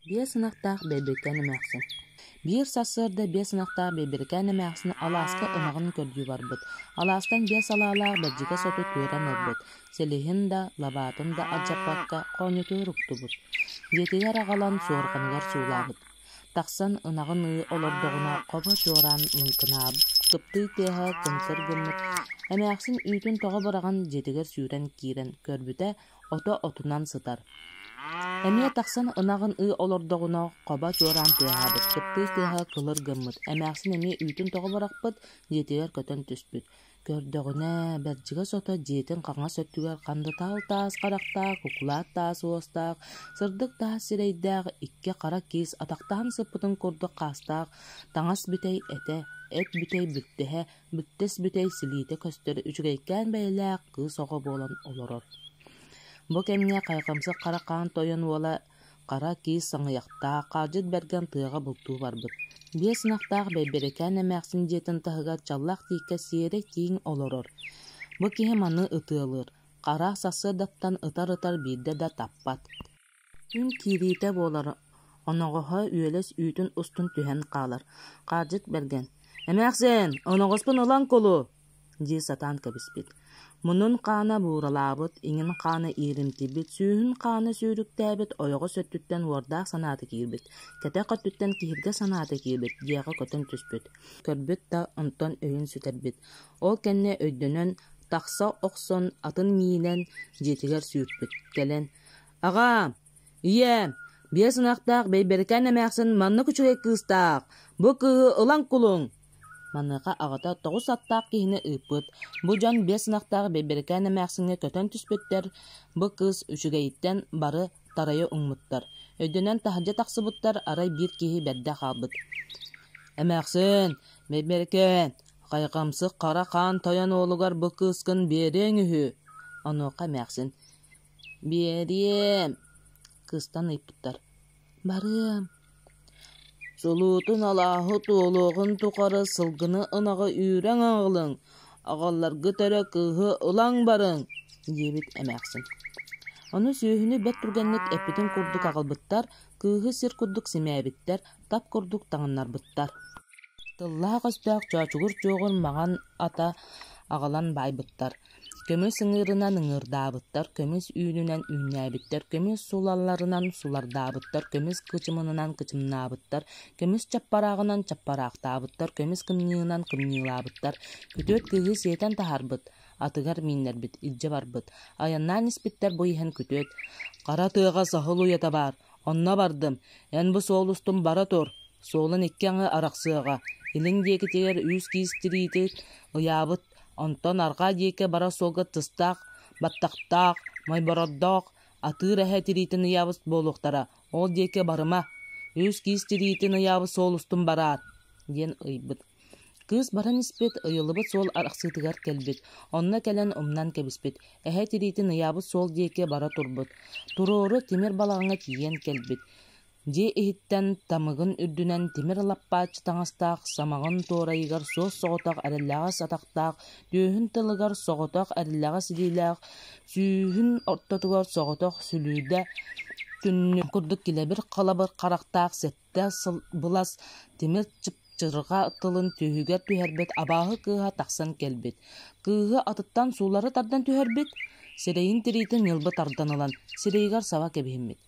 Биэс ынахтаах Бэйбэкээн эмээхсин Биир сарсыарда биэс ынахтаах Бэйбэкээн эмээхсин алааска ынаҕын көрдүү барбыт. Алаастан биэс алаалаах бэрдьигэс оту түөрэ өлөрбүт. Силиһин да, лабаатын да алдьаппакка хоонньотуор уктубут. Дьиэтигэр аҕалан суорҕаныгар суулаабыт. Тахсан ынаҕын ыы олордоҕуна хобо чуораан лыҥкынаабыт, кыптыый тиэһэ кыҥкыр гыммыт. Эмээхсин үүтүн тоҕо быраҕан дьиэтигэр сүүрэн киирэн көрбүтэ, ото отунан сытар. Эмиэ тахсан ынаҕын ыы олордоҕуна хоба чуораан тыаһаабыт, кыптыыс тыаһа кылыр гыммыт, эмээхсин эмиэ үүтүн тоҕо бырахпыт, дьиэтигэр көтөн түспүт. Көрдөҕүнэ, Бэрдьигэс ото дьиэтин хаҥас өттүгэр хандытаал таас харахтаах, куклаат таас уостаах, сырдык таас сирэйдээх, икки хара киис атахтаан сыппытын курдук хаастаах, таҥас бүтэй этэ, эт бүтэй бүттэһэ, Бүтэс-бүтэй силиитэ көстөр үчүгэйкээн бэйэлээх кыыс оҕо буолан олорор. Бу кэмҥэ Хайхамсык Хара Хаан Тойон уола Хара Киис Саҥыйахтаах Хаалдьыт Бэргэн тыаҕа бултуу барбыт. Биэс ынахтаах Бэйбэрэкээн эмээхсин дьиэтин таһыгар чаллаах тииккэ сиэрэ-тииҥ олорор. Бу киһи маны ытыалыыр: Хара сарсыардаттан ытар-ытар биирдэ да таппат Күн киириитэ буолара, оноҕоһо үөлэс үүтүн устун түһэн хаалар. Хаалдьыт Бэргэн: «Эмээхсин, оноҕоспун ылан кулу!» дии сатаан кэбиспит. Мунун хаана бууралаабыт, иҥин хаана ииримтийбит, сүүһүн хаана сүүрүктээбит, ойоҕос өттүттэн уордаах санаата киирбит, кэтэх өттүттэн киһиргэ санаата киирбит дьиэҕэ көтөн түспүт. Көрбүт да, онтон өйүн сүтэрбит. Ол кэннэ өйдөнөн, тахса охсон атын миинэн дьиэтигэр сүүрпүт. Кэлэн: Аҕаа, ийээ, биэс ынахтаах Бэйбэрикээн эмээхсин маннык үчүгэй кыыстаах, бу кыыһы ылан кулуҥ!» Маныаха аҕата тоҕус аттаах киһини ыыппыт. Бу дьон биэс ынахтаах Бэйбэрикээн эмээхсиҥҥэ көтөн түспүттэр, бу кыыс үчүгэйиттэн бары тарайа уҥмуттар. Өйдөнөн таһырдьа тахсыбыттар, арай биир киһи бэрдэ хаалбыт. «Эмээхсин, Бэйбэрикээн, хайҕамсык Хара Хаан Тойон уолугар бу кыыскын биэриэҥ үһү!» Онуоха эмээхсин Биэриэм, кыстан ыйыппыттар: «Барыам, сулуутун алааһы туолуоҕун тухары сылгыны ынаҕы үүрэн аҕалыҥ, аҕалларгыт эрэ кыыһы ылан барыҥ» диэбит эмээхсин. Ону сүөһүнү бэрт түргэнник эппитин курдук аҕалбыттар, кыыһы сир курдук симээбиттэр, тап курдук таҥыннарбыттар. Тыллаах-өстөөх чоочугур чуоҕур маҥан ата аҕалан баайбыттар. Көмүс ыҥыырынан ыҥыырдаабыттар, көмүс үүнүнэн үүннээбиттэр, көмүс сулалларынан сулардаабыттар, көмүс кычымынынан кычымнаабыттар, көмүс чаппарааҕынан чаппараахтаабыттар, көмүс кымньыынан кымньыылаабыттар. Күтүөт кыыһы сиэтэн таһарбыт, атыгар мииннэрбит, илдьэ барбыт. Айаннаан испиттэр бу иһин күтүөт «Хара тыаҕа саһыл уйата баар, онно бардым, эн бу суол устун бара тур, суолун икки аҥы арахсыаҕа, илиҥ диэкитигэр үүс киис тириити ыйаабыт Онтон арҕаа диэки бара суолга тыстаах, баттахтаах, мойборордоох атыыр эһэ тириитин ыйаабыт буолуохтара, ол диэки барыма, үс киис тириитин ыйаабыт суол устун бараар, диэн ыйбыт. Кыыс баран испит, ыйыллыбыт суол арахсыытыгар кэлбит. Онно кэлэн умнан кэбиспит. Эһэ тириитин ыйаабыт суол диэки бара турбут. Туруору тимир балаҕаҥҥа тиийэн кэлбит. дьиэ иһиттэн тамыгын үрдүнэн тимир лаппааччы таҥастаах самаҕын туорайыгар суос соҕотох эрэллэҕэс атахтаах түөһүн тылыгар соҕотох эрэллэҕэс илиилээх сүүһүн ортотугар соҕотох сүлүүдэ күннүк курдук килэбир халабыр харахтаах сэттэ сыл былас тимир чыпчырҕа тылын түөһүгэр түһэрбит абааһы кыыһа тахсан кэлбит кыыһы атыттан суулары тардан түһэрбит сирэйин тириитин ньылбы тардан ылан сирэйигэр саба кэбиһиммит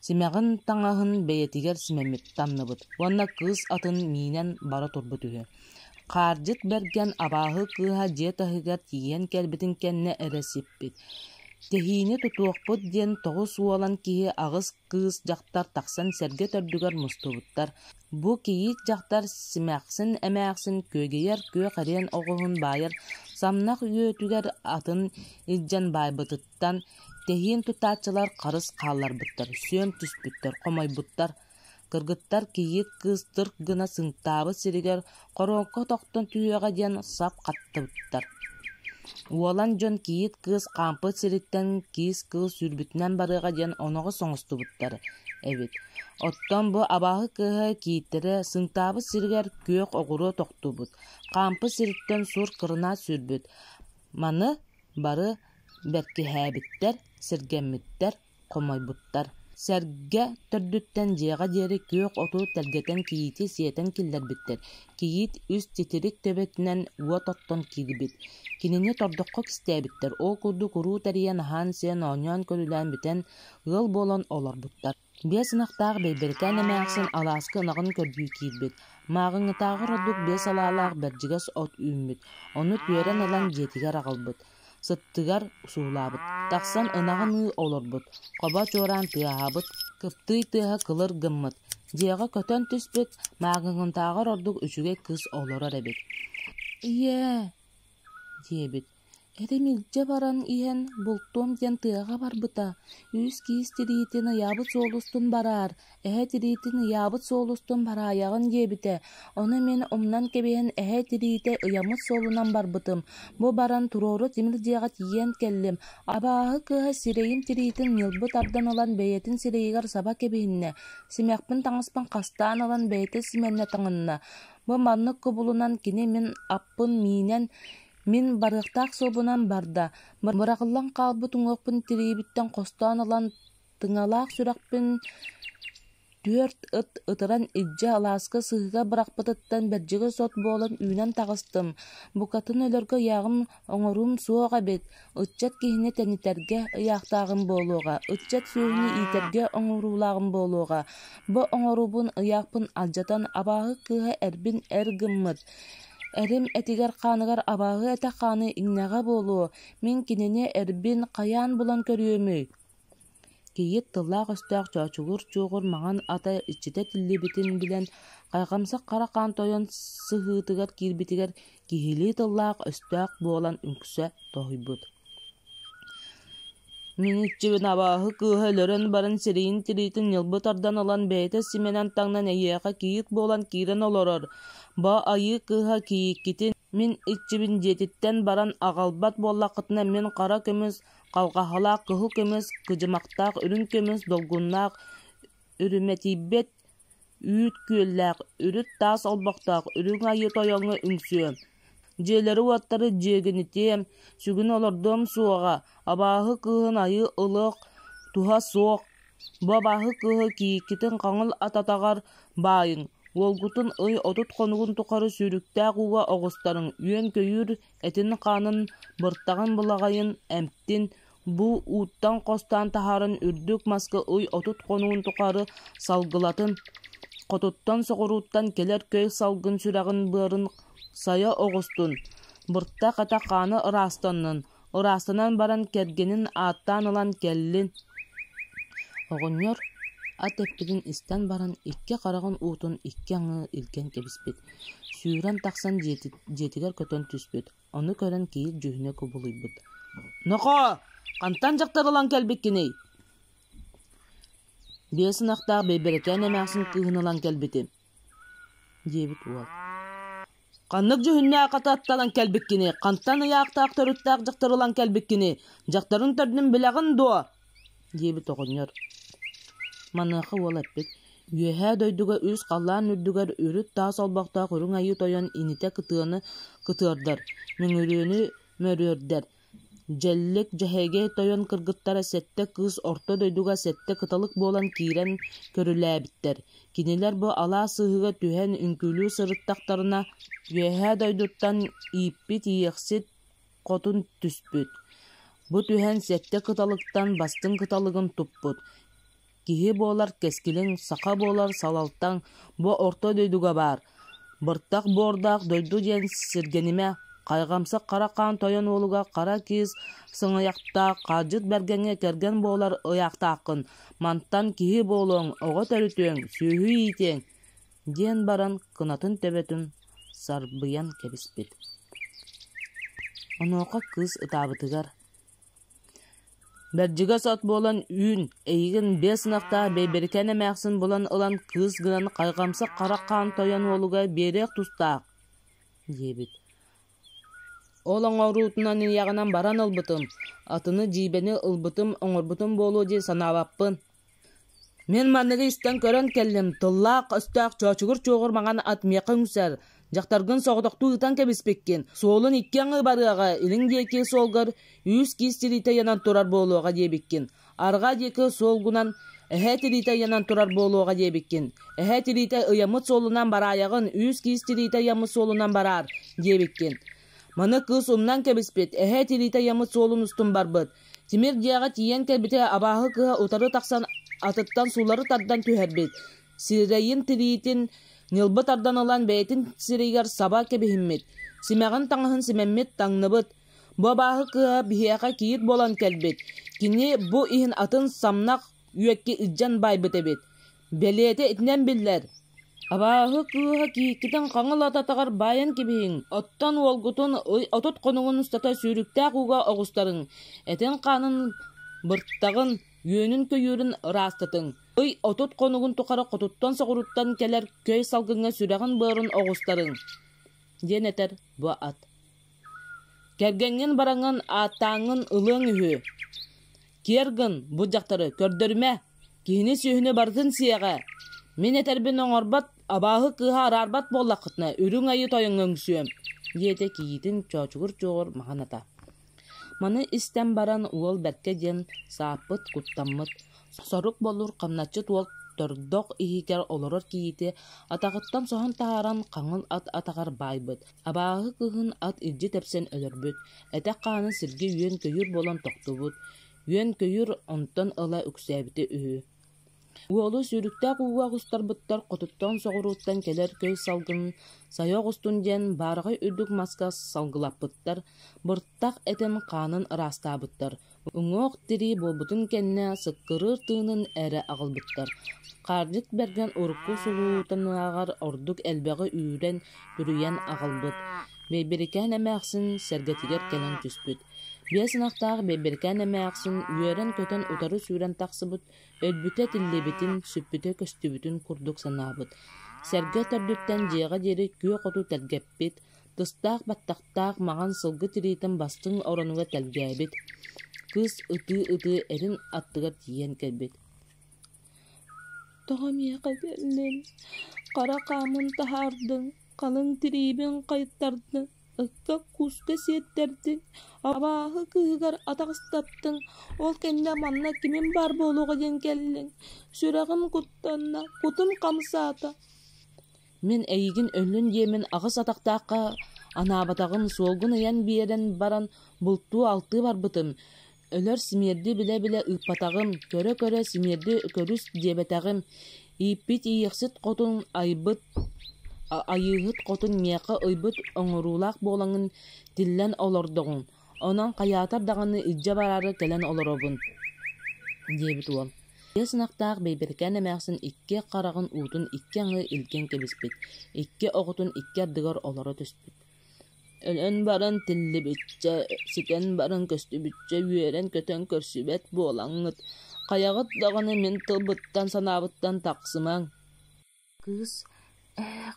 Симэҕин таҥаһын бэйэтигэр симэммит тамныбыт уонна кыыс атын миинэн бара турбут үһү. Хаардьыт Бэргэн абааһы кыыһа дьиэ таһыгар тиийэн кэлбитин кэннэ эрэ сиппит. Тэһиини тутуохпут диэн тоҕус уолан киһи аҕыс кыыс дьахтар тахсан сэргэ төрдүгэр мустубуттар. Бу кийиит дьахтар симэхсин-эмээхсин күөгэйэр күөх эриэн оҕуһун баайар самнах үөтүгэр атын илдьэн баайбытыттан туттан, тэһиэн тутааччылар харыс хаалларбыттар, сүөм түспүттэр, хомойбуттар. Кыргыттар кийиит кыыс тырк гына сынтаабыт сиригэр хороокко тохтон түһүөҕэ диэн сап хаттыбыттар. Уолан дьон кийиит кыыс хаампыт сириттэн киис кыыс сүүрбүтүнэн барыаҕа диэн оноҕо соҥостубуттар эбит. Оттон бу абааһы кыыһа кииттэрэ сынтаабыт сиригэр күөх оҕуруо тохтубут, хаампыт сириттэн сур кырынаат сүүрбүт. Маны бары Бэркиһээбиттэр, сэргэммиттэр, хомойбуттар. Сэргэ төрдүттэн дьиэҕэ диэри күөх оту тэлгэтэн кийиити сиэтэн киллэрбиттэр. Кийиит үс титирик төбөтүнэн уот оттон киирбит. Кинини тордоххо кистээбиттэр, ол курдук уруу тэрийэн аһаан-сиэн, оонньоон-көрүлээн бүтэн, ыал буолан олорбуттар. Биэс ынахтаах Бэйбэрикээн эмээхсин алааска ынаҕын көрдүү киирбит. Мааҕыҥҥытааҕы ордук биэс алаалаах бэрдьигэс от үүммүт, ону түөрэн ылан дьиэтигэр аҕалбыт. Сыттыгар суулаабыт. Тахсан ынаҕын ыы олорбут. Хоба чуораан тыаһаабыт, кыптыый тыаһа кылыр гыммыт. Дьиэҕэ көтөн түспүт, мааҕыҥҥытааҕар ордук үчүгэй кыс олорор эбит. «Ийээ!» диэбит. Этим илдьэ баран иһэн бултуом диэн тыаҕа барбыта, үс-киис тириитин ыйаабыт суол устун бараар, эһэ тириитин ыйаабыт суол устун бараайаҕын диэбитэ, ону мин умнан кэбиһэн эһэ тириитэ ыйаммыт суолунан барбытым, бу баран туруору тимир дьиэҕэ тиийэн кэллим, абааһы кыыһа сирэйим тириитин ньылбы тардан ылан бэйэтин сирэйигэр саба кэбиһиннэ, симэхпин таҥаспын хастаан ылан бэйэтэ симэннэ таҥынна, бу маннык кубулунан кини мин аппын миинэн Мин барыахтаах суобунан барда, быраҕыллан хаалбыт уҥуохпун тириyiбиттэн хостоон ылан, тыҥалаах сүрэхпин түөрт ыт ытыран илдьэ алааска сыһыга бырахпытыттан бэрдьигэс от буолан үүнэн таҕыстым. Букатын өлөргө ыйааҕым оҥоруум суох эбит, ыччат киһини тэнитэргэ ыйаахтааҕым буолуоҕа, ыччат сүөһүнү иитэргэ оҥоруулааҕым буолуоҕа. Бу оҥоруубун ыйаахпын алдьатан, абааһы кыыһа эрбин эр гыммыт, Эрим этигэр-хааныгар абааһы этэ хааны иҥнэҕэ буолуо, мин кинини эрбин хайаан булан көрүөмүй кийиит тыллаах-өстөөх чоочугур-чуоҕур маҥан ата иччитэ тиллибитин билэн, хайҕамсах хара хаан тойон сыһыытыгар киирбитигэр киһилии тыллаах-өстөөх буолан үҥксэ тоһуйбут Мүнүүччүбүн абааһы кыыһа өлөрөн баран сирэйин тириитин ньылбы тардан ылан бэйэтэ симэнэн таҥнан эһиэхэ кийиит буолан киирэн олорор, «Бо айыы кыыһа кийииккитин мин иччибин» диэтиттэн баран аҕалбат буоллаххытына мин хара көмүс, халҕаһалаах кыһыл көмүс, кыдьымахтаах үрүҥ көмүс, долгуннаах үрүмэтийбэт Үүт күөллээх, үрүт таас олбохтоох, үрүҥ айыы тойоҥҥо үҥсүөм. Дьиэлэри-уоттары дьиэгинитиэм, сүгүн олордуом суоҕа, абааһы кыыһын айыы ылыах туһа суох, бу абааһы кыыһы кийиккитин хаҥыл ататаҕар баайыҥ, уолгутун ый отут хонугун тухары сүүрүктээх ууга оҕустарыҥ, үөн-көйүүр этин-хаанын, быртаҕын-былаҕайын эмтин, Бу ууттан хостоон таһарын үрдүк маска уй отут хонуун тухары салгылатын, хотуттан соҕурууттан кэлэр көй салгын сүрэҕин-быарын сайа оҕустун, быртах ата хаана ыраастаннын, ыраастанан баран кэргэнин ааттаан ылан кэллин. Оҕонньор ат эппитин истэн баран икки хараҕын уутун икки аҥыы илгэн кэбиспит, сүүрэн тахсан дьиэтигэр көтөн түспүт. Ону көрөн киһи дьүһүнэ кубулуйбут: «Нохоо, хантан дьахтар ылан кэлбиккиний?» «Биэс ынахтаах Бэйбэрэкээн эмээхсин кыыһын ылан кэлбитим» диэбит уол. «Ханнык дьүһүннээх аты аттанан кэлбиккиний? Хантан ыйаахтаах төрүттээх дьахтар ылан кэлбиккиний? Дьахтарын төрдүн билэҕин дуо?» диэбит оҕонньор Маныаха уол эппит «Үөһээ дойдуга үс халлаан үрдүгэр үрүт таас олбохтоох үрүҥ айыы тойон инитэ кытыаны кытыардар, мүҥүрүөнү мөрүөрдэр, дьэллик дьэһэйгэй тойон кыргыттара сэттэ кыыс орто дойдуга сэттэ кыталык буолан киирэн көрүлээбиттэр. Кинилэр бу алаас сыыһыга түһэн үҥкүүлүү сырыттахтарына, Үөһээ дойдуттан ииппит иэхсит хотун түспүт, бу түһэн сэттэ кыталыктан бастыҥ кыталыгын туппут, киһи буолар кэскилиҥ саха буолар салалтаҥ бу орто дойдуга баар, быртах буордаах дойду диэн сиргэнимэ, хайҕамсык хара хаан тойон уолуга хара кыыс сыҥыйахтаах хаалдьыт бэргэҥҥэ кэргэн буолар ыйаахтааххын, мантан киһи буолуоҥ, оҕо төрүтүөҥ, сүөһү иитиэҥ, диэн баран кынатын төбөтүн сарбыйан кэбиспит Онуоха кыыс ытаабытыгар «Бэрдьигэс от буолан үүн, эйигин биэс ынахтаах Бэйбэрикээн эмээхсин булан ылан кыыс гынан хайҕамсык харах хаан тойон уолугар биэриэх тустаах» диэбит. Ол оҥоруутунан ийэҕинэн баран ылбытым, атыны дьиибэни ылбытым, оҥорбутум буолуо дии санаабаппын Мин манныгы истэн көрөн кэллим, тыллаах-өстөөх чоочугур-чуоҕур маҥан ат миэхэ үҥсэр, дьахтаргын соҕотохтуу ытан кэбиспиккин, суолун иккиэн ыбарыаҕа илин диэки суолгар үһүс киис тириитэ айанан турар буолуоҕа диэбиккин, арҕаа диэки суол гунан эһээ тириитэ айанан турар буолуоҕа диэбиккин, эһээ тириитэ ыйаммыт суолунан бараайаҕын үһүс киис тириитэ айаммыт суолунан бараар диэбиккин Маны кыыс умнан кэбиспит, эһэ итириитэ ыйаммыт суолун устун барбыт. Тимир дьиэҕэ тиийэн кэлбитэ абааһы кыыһа утары тахсан атыттан суулары тардан түһэрбит. Сирэйин тириитин ньылбы тардан ылан бэйэтин сирэйигэр саба кэбиһиммит. Симэҕин таҥаһын симэммит, таҥныбыт. Бу абааһы кыыһа биһиэхэ кийиит буолан кэлбит. Кини бу иһин атын самнах үөкки илдьэн баайбыт эбит. Бэлиэтэ итинэн биллэр: абааһы кыыһа Кииккитин хаҥыл ататыгар баайан кэбиһиҥ, оттон уолгутун отут хонугун устата сүүрүктээх ууга оҕустарыҥ, этин-хаанын быртаҕын, үөнүн-көйүүрүн ыраастатыҥ. Ый отут хонугун тухары хотуттан-соҕуруттан кэлэр көй салгыҥҥа сүрэҕин-быарын оҕустарыҥ» диэн этэр бу ат. «Кэргэҥҥин-бараҥҥын ааттааҥҥын ылыаҥ үһү» Киэр гын, бу дьахтары көрдөрүмэ, киһини сүөһүнү барытын сиэҕэ. Мин этэрбин оҥорбот, абааһы кыыһа араарбат буоллаххытына, үрүҥ айыы тойоҥҥо үҥсүөм, диэтэ кийиитин чоочугур чуоҕур маһаната. Маны истэн баран уол бэркэ диэн сааппыт, куттаммыт, сорук болур хамначчыт уол тордох иһигэр олорор кийиити атаҕыттан соһон таһааран хаҥыл ат атаҕар баайбыт, Абааһы кыһын ат илдьи тэпсэн өлөрбүт, этэх-хаанын сиргэ үөн-көйүүр буолан тохтубут, үөн-көйүүр онтон ыла үксээбитэ үһү. Уолу сүүрүктээх ууга оҕустарбыттар хотуттан соҕурууттан кэлэр көй салгынын сайа оҕустун диэн баарҕай үрдүк маска салгылаппыттар, быртах этин хаанын ыраастаабыттар, Уҥуох-тирии буолбутун кэннэ сыккырыыр тыынын эрэ аҕалбыттар. Хаардьыт Бэргэн урукку сулуутанааҕар ордук элбэҕи үүрэн, күрүйэн аҕалбыт. Бэйбэрикээн эмээхсин сэргэтигэр кэлэн түспүт. Биэс ынахтаах Бэйбэрикээн эмээхсин үөрэн-көтөн утары сүүрэн тахсыбыт, өлбүтэ-тиллибитин, сүппүтэ-көстүбүтүн курдук санаабыт. Сэргэ төрдүттэн дьиэҕэ диэри күөх оту тэлгэппит, Тыстаах баттахтаах маҕан сылгы тириитин бастыҥ оронугар тэлгээбит, кыыс ытыы-ытыы эрин аттыгар тиийэн кэлбит. «Тоҕо миэхэ биэрдиҥ? Хара хаамын таһаардыҥ, халыҥ тириибин хайыттардыҥ, ыкка кууска сиэттэрдиҥ, абааһы кыыһыгар атаҕастаттыҥ, ол кэннэ манна кимим баар буолуоҕа диэн кэллиҥ, сүрэҕим куттанна, кутум хамсаата» Мин эйигин өллүн диэмин аҕыс атахтаахха анаабатаҕым, суолгун ыйан биэрэн баран бултуу-алтыы барбытым, өлөр симиэрди билэ-билэ ыыппатаҕым, көрө-көрө симиэрди көрүс диэбэтэҕим, ииппит ииэхсит хотун айбыт айыыһыт хотун миэхэ ыйбыт оҥоруулаах буолаҥын тиллэн олордоҕуҥ, Онон хайаатар даҕаны илдьэ бараары кэлэн олоробун, диэбит уол. Биэс ынахтаах Бэйбэрикээн эмээхсин икки хараҕын уутун икки аҥыы илгэн кэбиспит, икки оҕотун икки ардыгар олоро түспүт. Өлөн баран тиллибиччэ, ситэн баран көстүбүччэ үөрэн-көтөн көрсүбэт буолаҥҥыт, хайаҕыт даҕаны мин тылбыттан-санаабыттан тахсымаҥ Кыыс «Ээх»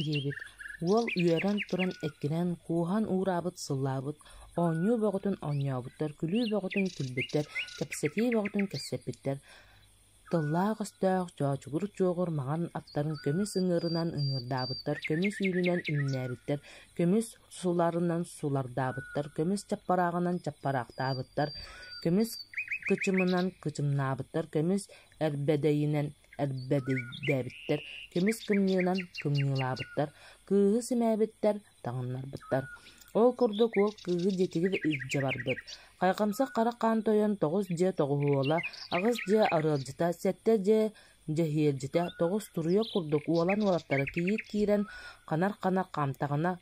диэбит, уол үөрэн туран эккинэн кууһан уураабыт сыллаабыт, оонньуу бөҕөтүн оонньообуттар, күлүү бөҕөтүн күлбүттэр, кэпсэтии бөҕөтүн кэпсэппиттэр. Тыллаах-өстөөх, чоочугур-чуоҕур маҥан аттарын көмүс ыҥыырынан ыҥыырдаабыттар, көмүс үүнүнэн үүннээбиттэр, көмүс суларынан сулардаабыттар, көмүс чаппарааҕынан чаппараахтаабыттар, көмүс кычымынан кычымнаабыттар, көмүс эрбэдэйинэн Эрдэбийдээбиттэр көмүс кымньыынан кымньыылаабыттар, кыыһы симээбиттэр, таҥыннарбыттар. Ол курдук уол кыыһы дьиэтигэр илдьэ барбыт. Хайҕамса Хара Хаан Тойон тоҕус дьиэ тоҕуһуола, аҕыс дьиэ арыалдьыта, сэттэ дьиэ дьэһиэлдьитэ, тоҕус туруйах курдук уолан уолаттара кийиит киирэн, ханар хана хаамтаҕына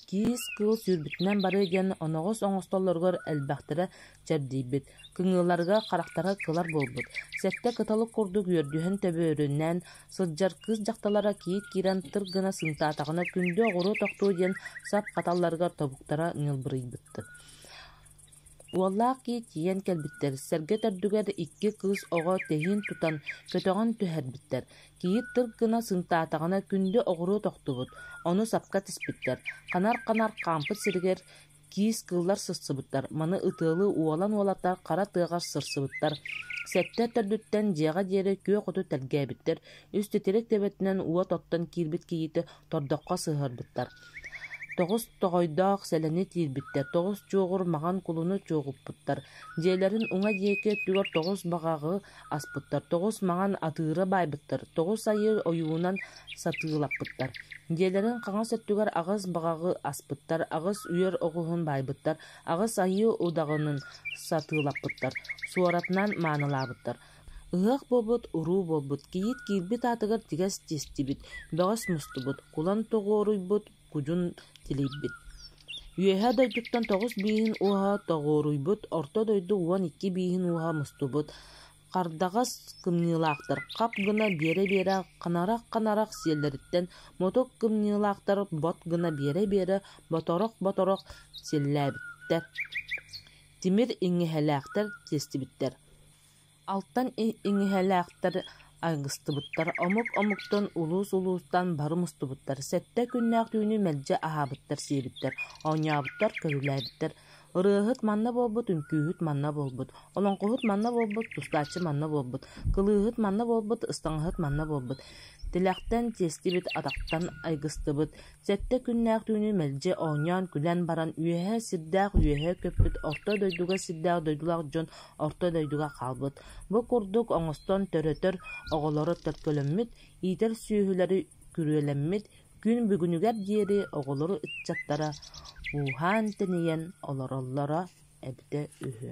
Киис-кыыл сүүрбүтүнэн барыа диэн оноҕос оҥостоллоругар элбэхтэрэ чэрдийбит, кыҥыыларга, харахтара кылар буолбут, сэттэ кыталык курдук үөрдүһэн төбөөрүннээн сылдьар кыыс дьахталлара кийиит киирэн тыр гына сымтаатаҕына күндү оҕуруот охтуо диэн сап хаталларыгар тобуктара ньылбырыйбыттар Уоллаах киһи тиийэн кэлбиттэр, сэргэ төрдүгэр икки кыыс оҕо тэһиин тутан, көтөҕөн түһэрбиттэр, кийиит тыр гына сынтаатаҕына күндү оҕуруо тохтубут, ону сапка тиспиттэр, ханар-ханар хаампыт сиригэр киис кыыллар сыстыбыттар, маны ытыалыы уолан-уолата хара тыаҕар сырсыбыттар, сэттэ төрдүттэн дьиэҕэ диэри күөх оту тэлгээбиттэр, үс титирик тэбэтинэн уот оттон киирбит кийиити тордоххо сыһыарбыттар. Тоҕус тоҕойдоох сэлэни тиирбиттэр, тоҕус чуоҕур маҥан кулуну чуоҕуппуттар, дьиэлэрин уҥа диэки өттүгэр тоҕус баҕаҕы аспыттар, тоҕус маҥан атыыры баайбыттар, тоҕус айыы ойуунан сатыылаппыттар, дьиэлэрин хаҥас өттүгэр аҕыс баҕаҕы аспыттар, аҕыс үөр оҕуһун баайбыттар, аҕыс айыы удаҕанын сатыылаппыттар, суоратынан маанылаабыттар. Ыһыах буолбут уруу буолбут, кийиит киирбит аатыгар тигэс тиэстибит, бөҕөс мустубут, кулан тоҕуоруйбут, кудьун тилийбит. Үөһээ дойдуттан тоҕус бииһин уоһа тоҕуоруйбут, орто дойду уон икки бииһин уоһа мустубут, хардаҕас кымньыылаахтар хап гына биэрэ-биэрэ ханарах-ханарах сиэллэриттэн мотук кымньыылаахтар бот гына биэрэ-биэрэ боторох-боторох силлээбиттэр. Тимир иҥэһэлээхтэр тиэстибиттэр Алтан иҥиһэлээхтэр айгыстыбыттар, омук-омуктан, улуус-улуустан бары мустубуттар, сэттэ күннээх түүнү мэлдьи аһаабыттар-сиэбиттэр, оонньообуттар, көрүлээбиттэр. Ырыаһыт манна буолбут, үҥкүүһүт манна буолбут, олоҥхоһут манна буолбут, тустааччы манна буолбут, кылыыһыт манна буолбут, ыстаҥаһыт манна буолбут. Тилэхтэн тиэстибит атахтан айгыстыбыт, Сэттэ күннээх түүнү мэлдьи оонньоон, күлэн баран, үөһээ сирдээх үөһээ көппүт орто дойдуга сирдээх дойдулаах дьон орто дойдуга хаалбыт. Бу курдук оҥостон төрөтөр оҕолоро төлкөлөммүт, иитэр сүөһүлэри күрүөлэммит, күн бүгүнүгэр диэри оҕолору ыччаттара ууһаан-тэнийэн олороллоро эбитэ үһү